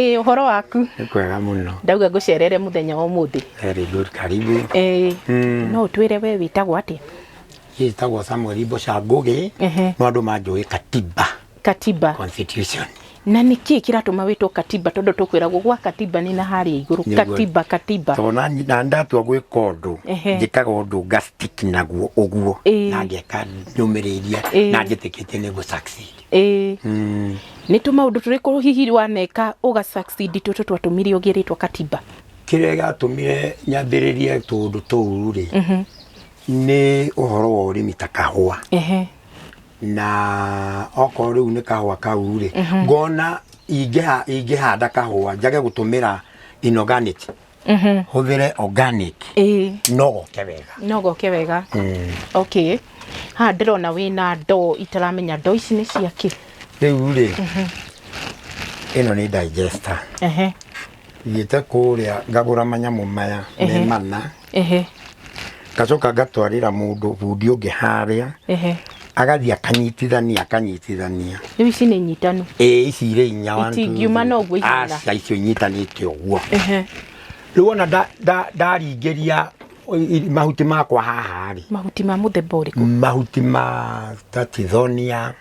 Ĩĩ ũhoro waku? Nĩ kwega mũno. Ndauga ngũcerere mũthenya wa ũmũthĩ. Very good, karibu. Ĩĩ. Mm. No ũtwĩre we wĩtagwo atĩa? Niĩ njĩtagwo Samuel Mboca Ngũgĩ, Ehe. no andũ manjũĩ Katiba Katiba. Constitution. Na nĩ kĩĩ kĩratũma wĩtwo Katiba tondũ tũkwĩragwo gwa Katiba nĩ na harĩa igũrũ. Nĩguo. Katiba, Katiba. Tondũ na na ndatua gwĩka ũndũ, Ehe. njĩkaga ũndũ ngastick naguo ũguo, Ĩĩ. na ngeka nyũmĩrĩria, Ĩĩ. na njĩtĩkĩtie nĩ gũ succeed. ĩĩ Mm. nĩ tå maå ndå tå rä kå hihi waneka å ga succeed tå tå twatũmire å gä rä two katiba kĩrĩa gĩatũmire nyambĩrĩrie tũũndũ tũu rĩ nĩ ũhoro wa ũrĩmi ta kahũa Ehe. na okorwo rĩu nĩ kahũa kau rĩ ngona ingĩha- ingĩhanda kahũa njage gũtũmĩra inorganic Mhm. hũthĩre organic Ĩĩ. no goke wega no goke wega okay haha ndĩrona wĩna ndoo itaramenya ndoo ici nĩ cia kĩ rĩu rĩ ĩno nĩ digester ehe thiĩte kũrĩa ngagũra manyamũ maya me Ehe. mana ehe ngacoka ngatwarĩra mũndũ bundi ũngĩ harĩa ehe agathiĩ akanyitithania akanyitithania rĩu ici nĩ nyitanu ĩ ici irĩ inya one, two, Itingiuma three. na ũguo ihana. Aca, icio inyitanĩte ũguo ehe rĩu ona nda- nda- ndaringĩria i- i- mahuti makwa haha rĩ mahuti ma mũthemba ũrĩkũ mahuti ma tatithonia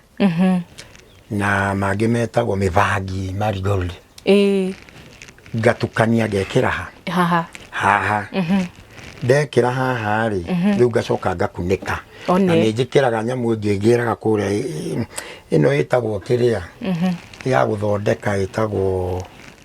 na mangĩ metagwo mĩbangi marigold ĩĩ ngatukania ngekĩra ha haha haha ndekĩra haha rĩ rĩu ngacoka ngakunĩka One. na nĩ njĩkĩraga nyamũ ĩngĩ ngĩraga kũrĩa ĩ- ĩ- ĩno ĩtagwo kĩrĩa ya gũthondeka ĩtagwo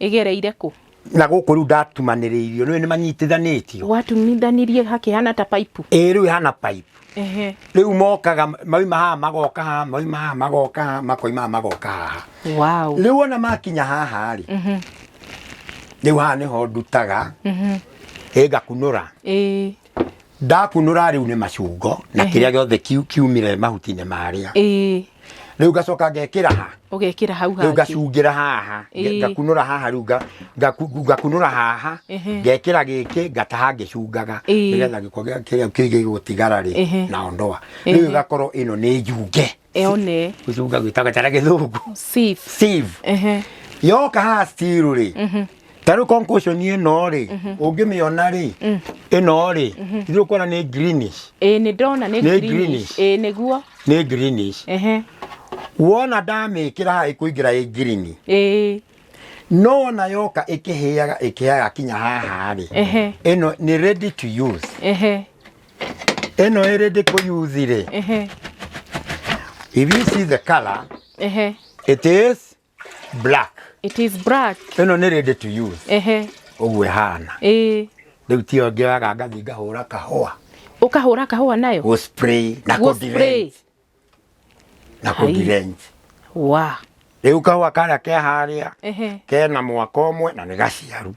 ĩgereire kũ? Na gũkũ rĩu ndatumanĩrĩirio, nĩũĩ nĩ manyitithanĩtio. Watuminithanirie hakĩhana ta paipu. Ĩĩ rĩu ĩhana paipu. Ehe. Rĩu mokaga mauma haha magoka haha, mauma haha magoka haha, makoima haha magoka haha. Wow. Rĩu ona makinya haha rĩ, rĩu haha nĩho ndutaga, ĩ ngakunũra. Ĩĩ. ndakunũra rĩu nĩ macungo na Ehe. kĩrĩa gĩothe kiu- kiumire mahuti-inĩ marĩa ĩĩ rĩu ngacoka ngekĩra ha ũgekĩra hau rĩu hangĩ ngacungĩra haha Ĩĩ. nge- ngakunũra haha rĩu nga- ngaku- ngakunũra haha Ehe. ngekĩra gĩkĩ ngataha ngĩcungaga Ĩĩ. nĩgetha gĩko gĩa- kĩrĩa kĩu gĩgũtigara Ehe. rĩ na ondoa Ehe. rĩu ĩgakorwo ĩno nĩ njunge one gĩcunga gwĩtaga kana gĩthũngũ sieve sieve ehe yoka haha still rĩ tarä concussion ĩno rĩ ũngĩmĩona rĩ ĩno rĩ ithuĩ kuona nĩ greenish ĩĩ nĩ ndona nĩ Nĩ greenish greenish. ĩĩ nĩguo nĩ greenish ehe wona ndamĩkĩra haha ĩkũingĩra ĩ green ĩĩ no wona yoka ĩkĩhĩaga ĩkĩhĩaga kinya haha rĩ Ehe. ĩno nĩ ready to use ehe ĩno ĩrĩ ndĩkũyuthi-rĩ Ehe. if you see the color Ehe. it is black It is black. ĩno nĩ ready to use Ehe. ũguo ĩhana Ĩĩ. rĩu tiyo ngĩoyaga ngathi ngahũra kahũa Ũkahũra kahũa nayo? gũ spray na Gũ kũ spray. direct. na Hai. kũdirenji wa rĩu kau akarĩa ke harĩa ehe kena mwaka ũmwe na nĩ gaciaru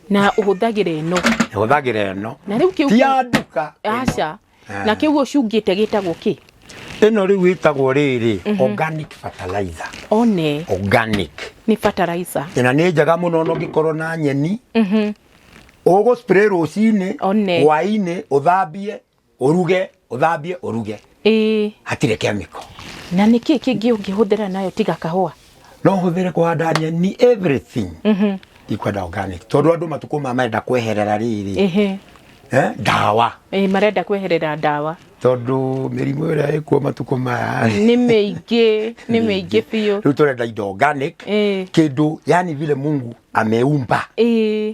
na ũhũthagĩra ĩno hũthagĩra ĩno na rĩu kĩu ti ya nduka ĩno. aca Ah. na kĩu ũcungĩte gĩtagwo kĩ ĩno rĩu ĩtagwo rĩrĩ organic fertilizer one organic nĩ fertilizer ĩna nĩ njega mũno ona ũngĩkorwo na nyeni Mhm. ũgũ spray rũcinĩ One. hwainĩ ũthambie Ũruge, ũthambie, ũruge. Ĩĩ. Hatirĩ kemiko. Na nĩ kĩĩ kĩngĩ ũngĩhũthĩra nayo tiga kahũa? No hũthĩre kũhanda nyeni everything. Mhm. Ikwenda organic. Tondũ andũ matukũ ma marenda kweherera rĩrĩ. Ehe. Eh, ndawa. Ĩĩ marenda kweherera ndawa. Tondũ mĩrimũ ĩrĩa ĩkuo matukũ maya. Nĩ mĩingĩ, nĩ mĩingĩ biũ. Rĩu tũrenda indo organic. Ĩĩ. Kĩndũ yani vile Mungu ameumba. Ĩĩ.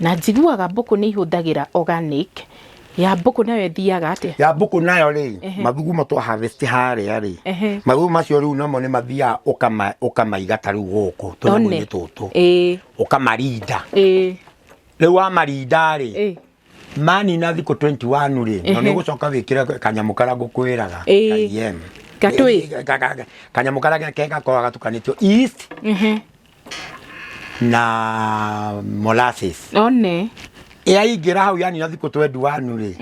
Na njiguaga mbũkũ nĩ ihũthagĩra organic, ya mbũkũ nayo ĩthiaga atĩa? Ya mbũkũ nayo rĩ, mathugumo twa harvest harĩa rĩ, mathugumo macio rĩu namo nĩ mathiaga ũkamaiga ta rĩu gũkũ tũnyamũ-inĩ tũtũ, ũkamarinda. Rĩu wamarinda rĩ, manina thikũ twenty one rĩ, na nĩ ũgũcoka wĩkĩre kanyamũ karĩa ngũkwĩraga ka EM, kanyamũ karĩa kega gakoragwo gatukanĩtio yeast, na molasses one yaingĩra hau yani na thikũ twendu wanu rĩ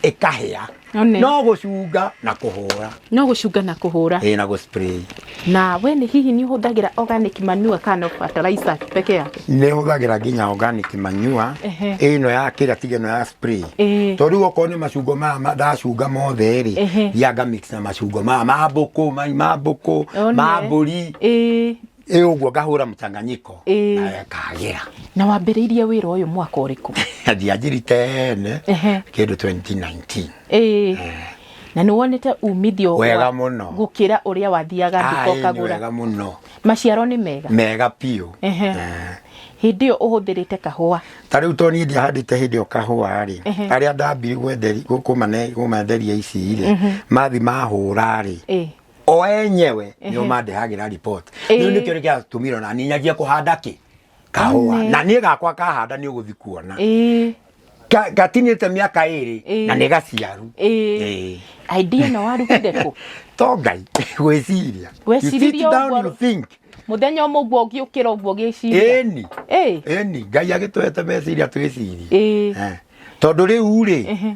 ĩkahĩa one no gũcunga na kũhũra no gũcunga na kũhũra ĩ na gũspray na we nĩ hihi nĩ ũhũthagĩra organic manure kana no fertilizer peke yake nĩ hũthagĩra nginya organic manure Ehe. ĩno ya kĩrĩa tiga ĩno ya spray Ĩĩ. tondũ rĩu okorwo nĩ macungo maya ma- ndacunga mothe Ehe. rĩ thianga mix na macungo maya ma mbũkũ mai ma mbũkũ One. ma mbũri Ĩĩ. ä å guo ngahå ra må canganyiko Ĩĩ. na akagä ra na wambĩrĩirie wĩra ũyũ mwaka ũrĩkũ ndianjiri tene Ehe. kä ndå 2019 Ĩĩ. na nĩ wonete umithio wa- Wega mũno. gũkĩra ũrĩa wathiaga nduka Aĩ, nĩ ũkagũra wega må no maciaro nĩ mega mega biå Ehe. hĩndĩ ĩyo ũhũthĩrĩte kahũa ta rä u to niä ndiahandä te hä ndä ä yo kahåa rä Ehe. arä a ndambire kå manderia ici rä mathi mahå ra rä Ĩĩ. o enyewe nio mandehagĩra report rĩu nĩkĩo gĩatũmire ona niĩ nyanjie kũhanda kĩ kahũa One. na niĩ gakwa kahanda nĩ ũgũthi kuona ĩĩ Ka- gatinĩte mĩaka ĩrĩ Ĩĩ. na nĩ gaciaru ĩĩ Ĩĩ. idea ĩno warutire kũ to ngai gwĩciria You sit Gwĩcirĩria down, ũguo- you think. muthenya umwe guo ngiukira guo giciria ĩni eh ĩni ngai agĩtũhete meciria twĩcirie ĩĩ Eh. tondũ rĩu rĩ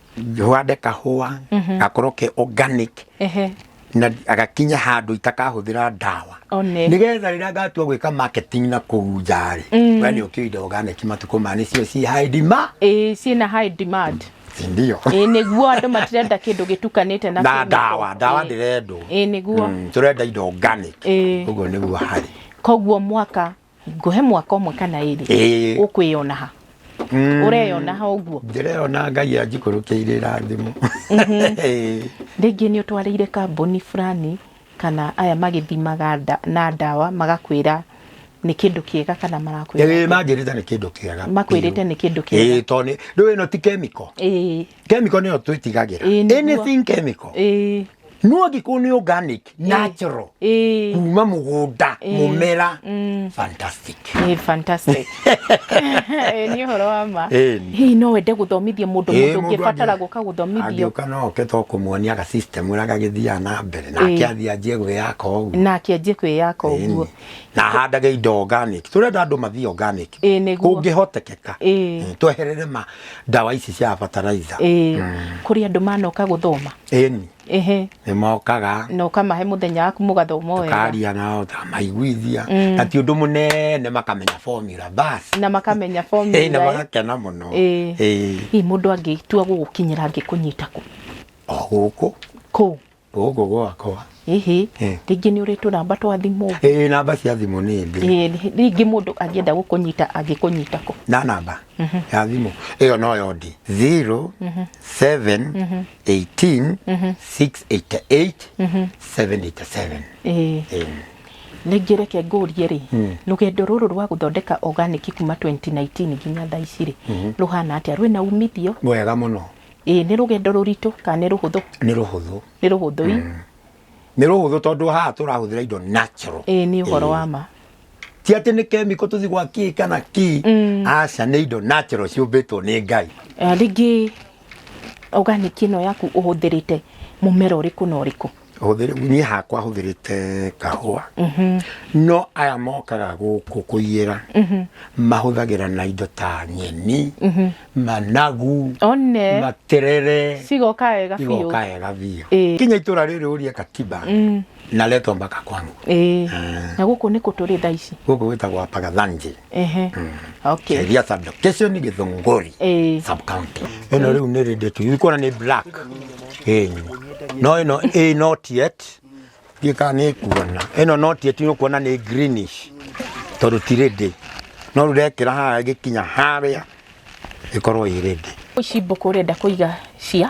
hande kahũa mhm. gakorwo ke organic na agakinya handu itakahuthira ndawa nigetha rira ngatua gwika marketing na kuu nja ri mm. we ni ukiu indo organic matuko ma ni cio ci high demand eh ci na high demand ndio eh niguo andu matirenda kindu gitukanite na na ndawa ndawa ndirendwo eh niguo mm, turenda indo organic uguo niguo hari koguo mwaka ngũhe mwaka ũmwe kana ĩrĩ Ĩĩ. ũkwĩyona ha Mm, ũreyona ha ũguo ndĩreyona ngai anjikũrũkĩire irathimo Ĩĩ. rĩngĩ nĩ ũtwarĩire kambuni fulani kana aya magĩthimaga nda- na ndawa magakwĩra nĩ kĩndũ kĩega kana Ĩĩ, marakwĩra manjĩrĩte nĩ kĩndũ kĩega Makwĩrĩte nĩ kĩndũ kĩega. Ĩĩ, tondũ nĩ- rĩu ĩno ti kemiko Ĩĩ. chemical nĩyo twĩtigagĩra Ĩĩ, nĩguo. anything chemical ĩĩ no angĩkorwo nĩ organic natural ĩĩ kuma mũgũnda mũmera Mm. fantastic Ĩĩ, fantastic Ĩĩ, nĩ ũhoro wa ma Ĩĩ. hihi no wende gũthomithia mũndũ Ĩĩ, mũndũ mũndũ ũngĩbatara angĩ- gũka gũthomithio angĩũka no oke to kũmuonia ga system ũrĩa gagĩthiaga na mbere nake Ĩĩ. athiĩ anjie gwĩyaka ũguo nake anjie kwĩyaka ũguo Ĩĩ. na handage indo organic turenda andu mathii organic Ĩĩ, nĩguo. kũngĩhotekeka Ĩĩ. Mm, tweherere ma ndawa ici cia fertilizer Ĩĩ, kũrĩ andũ manoka gũthoma ĩni ehe nĩ mokaga na ũkamahe mũthenya waku mũgathoma wega karia nao tamaiguithia na ti ũndũ mũnene makamenya formula basi na makamenya Ĩĩ, na formula eh. magakena mũno Ĩĩ. Ĩĩ. Ĩĩ, mũndũ angĩtua gũgũkinyĩra angĩkũnyita kũ o gũkũ kũ gũkũ gwakwa hihi Eh. rĩngĩ nĩ ũrĩ tũnamba twa thimũ ĩĩ namba cia thimũ nĩ ndĩ Eh, rĩngĩ mũndũ angĩenda gũkũnyita angĩkũnyita kũ na namba ya thimũ ĩyo noyo ndĩ 0 7 18 688 787 Eh, Ĩĩ. rĩngĩ reke ngũrie rĩ rũgendo rũrũ rwa gũthondeka organic kuma 2019 nginya thaa ici rĩ rũhana atĩa rwĩna umithio mwega mũno Ĩĩ nĩ rũgendo rũritũ kana nĩ rũhũthũ? Nĩ rũhũthũ. Nĩ rũhũthũ ii? Mm. Nĩ rũhũthũ tondũ haha tũrahũthĩra indo natural. Ĩĩ nĩ ũhoro wa ma. Ti atĩ nĩ kemiko tũthi gwa kii kana kii. Mm. Aca nĩ indo natural ciũmbĩtwo nĩ Ngai. Eh, rĩngĩ organic ĩno yaku ũhũthĩrĩte mũmera ũrĩkũ na ũrĩkũ? hũthĩrĩ- niĩ hakwa hũthĩrĩte kahũa no aya mokaga gũkũ kũiyĩra mahũthagĩra na indo ta nyeni managu one materere cigoka wega biũ igoka wega biũ Ĩĩ. kinya itũra rĩrĩ ũrie katiba naletwa mpaka kwangu ĩĩ na gũkũ nĩ kũ tũrĩ thaa ici gũkũ gwĩtagwo apagathanje ehe okay Sheria sub location ni Githunguri eh sub county. Ino riu ni ready to ikona ni black. Eh. No ino eh not yet. Gika ni kuona. Ino not yet ni kuona ni greenish. Tondu ti ready. No rurekira ha gikinya haria. Ikorwo i ready. ici mbũkũ ũrenda kũiga cia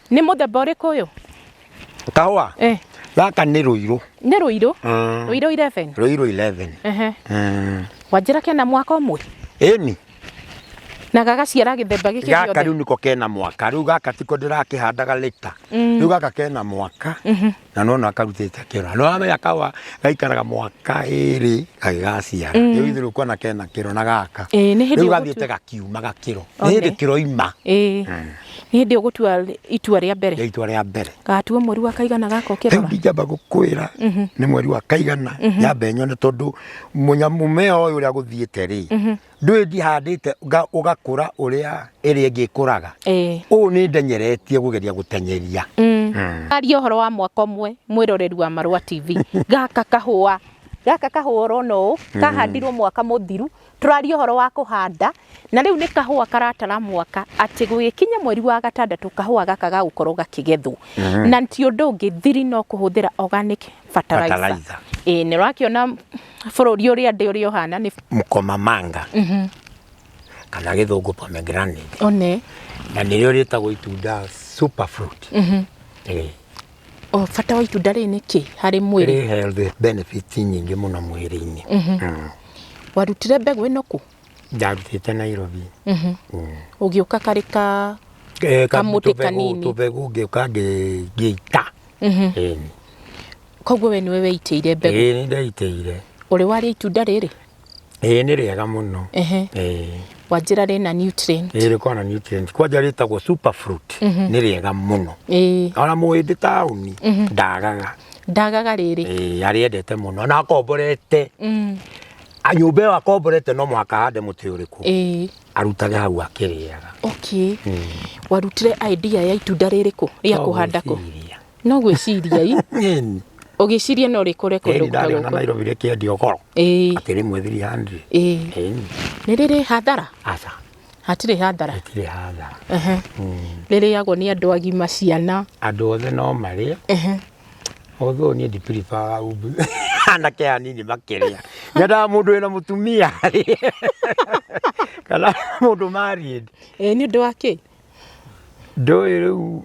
Nĩ mũthemba ũrĩkũ ũyũ? Kahũa Eh, gaka nĩ rũirũ nĩ rũirũ. Mm. Rũirũ 11. rũirũ 11 Ehe. Mm. Wanjĩra kena mwaka ũmwe ĩni na gagaciara gĩthemba gĩkĩ gaka gĩothe. rĩu nĩko kena mwaka rĩu gaka tiko ndĩrakĩhandaga lĩta rĩu gaka kena mwaka na no no akarutĩte kĩro no amenya kawa gaikaraga mwaka ĩrĩ gagĩgaciara rĩu ithe rĩu kwana kena kĩro na gaka Ĩĩ, nĩ hĩndĩ rĩu ũgũtua- gathiĩte gakiuma gakĩro nĩ One. hĩndĩ kĩro ima ĩĩ nĩ hĩndĩ ũgũtua itua rĩa mbere rĩa itua rĩa mbere gatua mweri wa kaigana gaka rĩu ũkĩrora ndingĩamba gũkwĩra nĩ mweri wa kaigana nyambe nyone tondũ mũnya- mũmea ũyũ ũrĩa gũthiĩte rĩ ndũĩ ndihandĩte nga- ũgakũra ũrĩa ĩrĩa ĩngĩ ĩkũraga ĩĩ ũũ nĩ ndenyeretie kũgeria gũtenyeria aria ũhoro wa mwaka ũmwe mwĩroreri wa marũa tv gaka kahũa gaka kahũa ũrona ũũ kahandirwo mwaka mũthiru tũraria ũhoro wa kũhanda na rĩu nĩ kahũa karatara mwaka atĩ gũgĩkinya mweri wa gatandatũ kahũa gaka gagũkorwo gakĩgethwo na ti ũndũ ũngĩ thiri no kũhũthĩra organic fertilizer Fertilizer. ĩĩ nĩ ũrakĩona bũrũri ũrĩa ndĩ ũrĩa ũhana nĩ mũkomamanga mhm. kana gĩthũngũ pomegranate one na nĩrĩo rĩtagwo itunda super fruit mhm. eh. o bata wa itunda rĩrĩ nĩ kĩ harĩ mwĩrĩ rĩ healthy benefits nyingĩ mũno mwĩrĩ-inĩ mhm. mm. warutire mbegũ ĩno kũ ndarutĩte Nairobi mm. ũgĩũka karĩ ka eh, kamũtĩ kanini tũbegũ ngĩũka ngĩita koguo we nĩwe weitĩire mbegũ ĩĩ nĩ ndeitĩire ũrĩ warĩa itunda rĩrĩ ĩĩ nĩ rĩega mũno Ehe. ĩĩ wanjĩra rĩna nutrient ĩĩ rĩkoragwo na nutrient kwanja rĩtagwo super fruit nĩ rĩega mũno ĩĩ ona mũhĩndĩ taũni ndagaga ndagaga rĩrĩ ĩĩ arĩendete mũno na akomborete Mm, A- nyũmba ĩyo akomborete no mũhaka hande mũtĩ ũrĩkũ ĩĩ arutage hau akĩrĩaga okay warutire idea ya itunda rĩrĩ kũ rĩa kũhanda kũ Ndogwĩciria. no gwĩciria i Ĩni. ũgĩciria no rĩkũre kũndũ Ĩni ndarĩona gũkagũkũ Nairobi rĩkĩendio goro. ĩĩ Atĩ rĩmwe 300. ĩĩ Ĩni. nĩ rĩrĩ hathara Aca. hatirĩ hathara Gũtirĩ hathara. Ehe. rĩrĩagwo nĩ andũ agima ciana Andũ othe no marĩe. Ehe. Although niĩ ndipiribaga umbu. Anake anini makĩrĩa. Nyendaga mũndũ wĩna mũtumia. Kana mũndũ married. Ĩĩ, nĩ ũndũ wa kĩ ndũĩ rĩu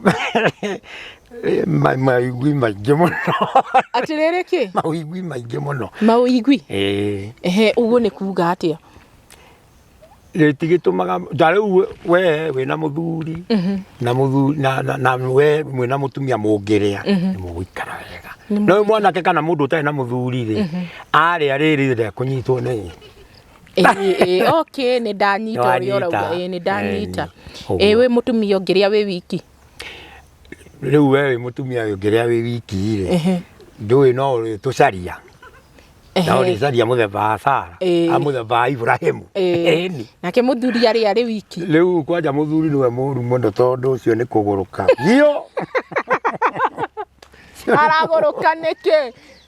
ma- maigui maingĩ mũno atĩ rĩrĩ kĩ maigui maingĩ mũno maũigui Ĩĩ. ehe ũguo nĩ kuga atĩa rĩtigĩtũmaga ta rĩu we wĩna mũthuri na mũthuri na, na, na we mwĩna mũtumia mũngĩrĩa nĩ mũgũikara wega no ũyũ mwanake kana mũndũ ũtarĩ na mũthuri rĩ arĩa rĩrĩ rĩa kũnyitwo nĩ Ĩĩ, ĩĩ, okay nĩ ndanyita ũrĩa Nĩwanyita. ũrauga ĩĩ nĩ ndanyita Ĩĩ, ĩĩ wĩ mũtumia ũngĩrĩa wĩ wiki Rĩu we wĩ mũtumia ũyũ ngĩrĩa wĩ wiki rĩ, Ehe. ndũĩ no ũrĩtũcaria na Ehe. ũrĩcaria mũthemba wa Sara, Ĩĩ. a mũthemba wa Ibrahimu. Ĩĩ. Ĩni. nake mũthuri arĩ arĩ wiki Rĩu kwanja mũthuri nĩwe mũru mũno tondũ ũcio nĩ kũgũrũka. Biũ. aragũrũka nĩkĩ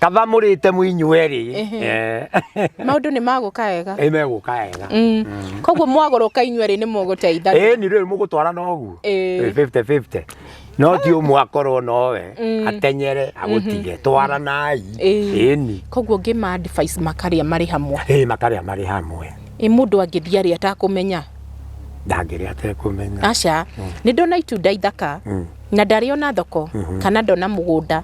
kava må rä te må inyuä rä Ehe. maundu ni maguka wega ä megå ka wega Mm. koguo mwagũrũka inyuĩ rĩ nĩ mũgũteithagia ä ni rä u må gå twara na å guo Ĩĩ. 50-50. no ti å mwe akorwo nowe Mm. atenyere agå tige twaranai Ĩĩ. ä ni koguo ngĩma advice makarĩa marĩ hamwe ä makarä a marä hamwe ĩ mũndũ angĩthiĩ arĩa atakũmenya ndangä rä atekå menya aca nĩ ndona itunda ithaka Mm. na ndarĩ ona thoko kana ndona mũgũnda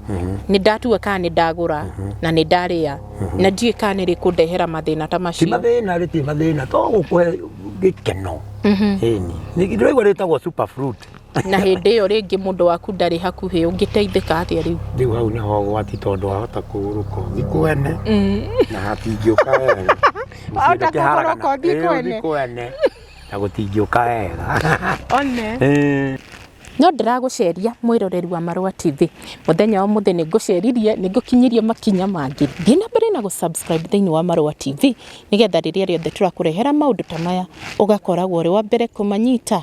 nĩ ndatua kana nĩ ndagũra na nĩ ndarĩa na ndiũĩ kana nĩ rĩkũndehera mathĩna ta ti macio mathĩna rĩtirĩ mathĩna to gũkũhe gĩkeno Ĩni. Nĩ- ndĩraigua rĩtagwo super fruit na hĩndĩ ĩyo rĩngĩ mũndũ waku ndarĩ hakuhĩ ũngĩteithĩka atĩa rĩu rĩu hau nĩho ũgwati tondũ wahota kũgũrũka ũthiĩ kwene na hatingĩũka wega Wahota Gũtiũka haragana. kũgũrũka ũthiĩ Ĩĩ, kwene. ũthiĩ kwene na gũtingĩũka wega one Ĩĩ. No ndĩragũceria mwĩroreri wa Marũa TV. Mũthenya ũmũthĩ nĩ ngũceririe, nĩ ngũkinyirie makinya mangĩ. Thiĩ na mbere na gũ subscribe thĩinĩ wa Marũa TV nĩgetha rĩrĩa rĩothe tũrakũrehera maũndũ ta maya ũgakoragwo ũrĩ wa mbere kũmanyita.